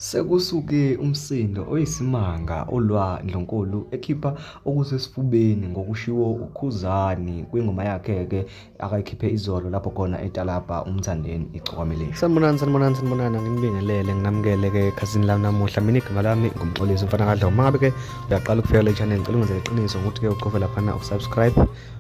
Sekusuke umsindo oyisimanga olwa Ndlunkulu ekhipha okusesifubeni ngokushiwo uKhuzani kwingoma yakhe-ke akayikhiphe izolo lapho khona etalabha umthandeni igcokameleni. Sanibonani, sanibonani, sanibonani, nginibingelele nginamukele-ke ekhasini lami namuhla. Mina igama lami ngumxolisi umfana kadlomo. Uma ngabe-ke uyaqala ukufika kule channel ngicela ungenzele iqiniso ngokuthi-ke uqove laphana usubscribe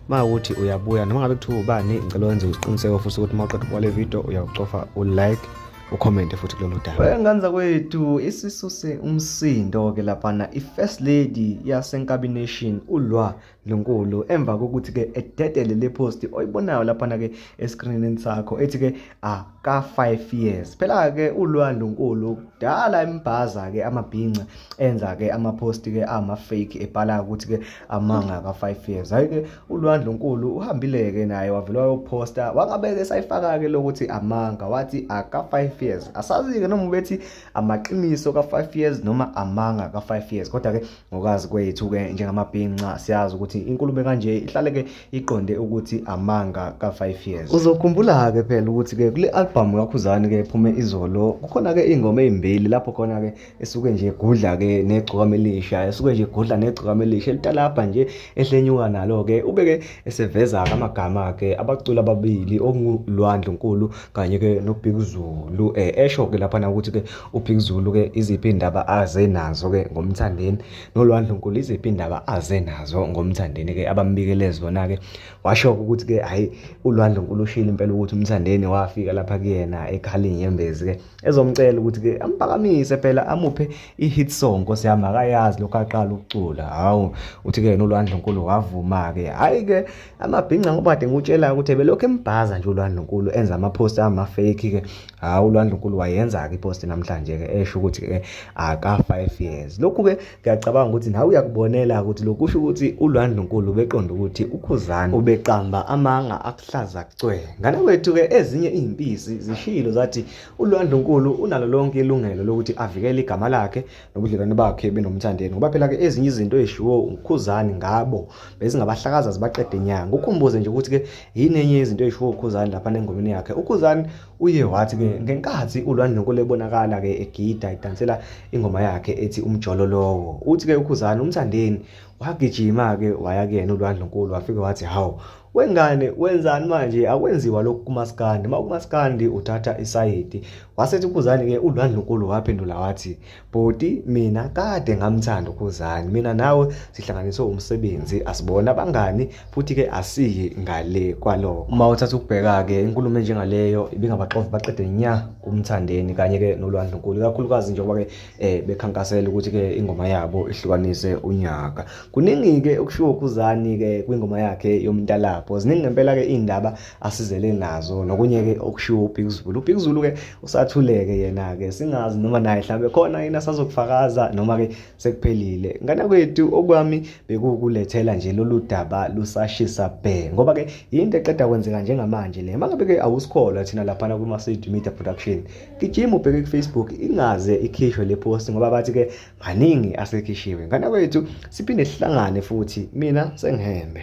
uma ukuthi uyabuya noma ngabe kuthiwa ubani ngicela wenze isiqiniseko futhi ukuthi uma uqeda ukubuka le video uyawucofa ulike ucommente futhi kulolu daba wengane zakwethu isisuse umsindo ke laphana i-first lady yasenkabination ulwa lonkulu emva kokuthi ke ededele le post oyibonayo laphana ke escreenini sakho ethi ke aka ah, 5 years phela ke ulwa lonkulu kudala imbhaza ke amabhinca enza ke ama post ke ama fake ebhala ukuthi ke amanga ka 5 years hayi ke uLwandle uNkulu uhambile-ke naye wavelwa yokuphosta wangabeke esayifaka-ke lokuthi amanga wathi aka-five years asazi-ke noma ubethi amaqiniso ka-five years noma amanga ka-five years kodwa-ke ngokazi kwethu-ke njengamabhinca siyazi ukuthi inkulumo kanje ihlale-ke iqonde ukuthi amanga ka-five years uzokhumbula-ke phela ukuthi-ke kule albhamu kakhuzane-ke ephume izolo kukhona-ke iy'ngoma ey'mbili lapho khona-ke esuke nje egudla ke negcokama elisha esuke nje egudla negcokama elisha elitalabha nje ehlenyuka nalo ke ube ke eseveza ke amagama ke abaculi ababili okunguLwandle Nkulu kanye ke noBhikuzulu eh esho ke lapha na ukuthi ke uBhikuzulu ke iziphi indaba aze nazo ke ngomthandeni noLwandle Nkulu iziphi indaba aze nazo ngomthandeni ke abambikele zona ke washo ukuthi ke hayi uLwandle Nkulu ushilo impela ukuthi umthandeni wafika lapha kuyena ekhali inyembezi ke ezomcela ukuthi ke ampakamise phela amuphe i-hit song nkosi yami akayazi lokho aqala ukucula hawu uthi ke yena ulwandle nkulu wavuma ke hayi ke amabhinca ngoba kade ngikutshela ukuthi belokhu embhaza nje ulwandle nkulu enza ama-post ama-fake ke hawu ulwandle nkulu wayenza-ke i-post namhlanje ke esho ukuthi ke aka-five years lokhu ke ngiyacabanga ukuthi nawe uyakubonela ukuthi lokusho ukuthi ulwandlunkulu ubeqonda ukuthi ukhuzani ubeqamba amanga akuhlaza cwe ngane kwethu-ke ezinye iy'mpisi zishilo zathi ulwandlunkulu unalo lonke ilungelo lokuthi avikele igama lakhe nobudlelwane bakhe benomthandeni ngoba phela-ke ezinye izinto ezishiwo ukhuzani ngabo bezingabahlakaza zibaqede nyanga ukhumbuze nje ukuthi-ke yini enye yezinto ezishiwo ukhuzani lapha nengomeni yakhe ukhuzani Uye wathi ke ngenkathi uLwandlunkulu ebonakala ke egida edansela ingoma yakhe ethi umjolo lowo. Uthi ke uKhuzani umthandeni wagijima ke waya kuyena uLwandlunkulu wafike wathi hawu wengane wenzani manje akwenziwa lokhu kumaskandi uma kumaskandi uthatha isayidi wasethi uKhuzani ke uLwandlunkulu waphendula wathi bhuti mina kade ngamthanda ukhuzani mina nawe sihlanganiswe umsebenzi asibona abangani futhi-ke asiyi ngale kwaloko uma uthatha ukubheka-ke inkulumo enjengaleyo ibingabaxovi baqede nya kumthandeni kanye-ke nolwandlunkulu ikakhulukazi njengoba-ke um bekhankasela ukuthi-ke ingoma yabo ihlukanise unyaka kuningi-ke okushiwo ukhuzani-ke kwingoma yakhe yomntalapho ziningi ngempela-ke iy'ndaba asizele nazo nokunye-ke okushiwo ubhikuzulu ubhikuzulu-ke usathuleke yena-ke singazi noma naye mhlawumbe khona yena asazokufakaza noma-ke sekuphelile ngane kwethu okwami bekuwukulethela nje lolu daba lusashisa bhe ngoba-ke yinto eqeda kwenzeka njengamanje le mangabe-ke awusikholwa thina laphana kuma-cd media production gijima ubheke kufacebook ingaze ikhishwe le post ngoba bathi-ke maningi asekhishiwe ngane kwethu siphinde sihlangane futhi mina sengihembe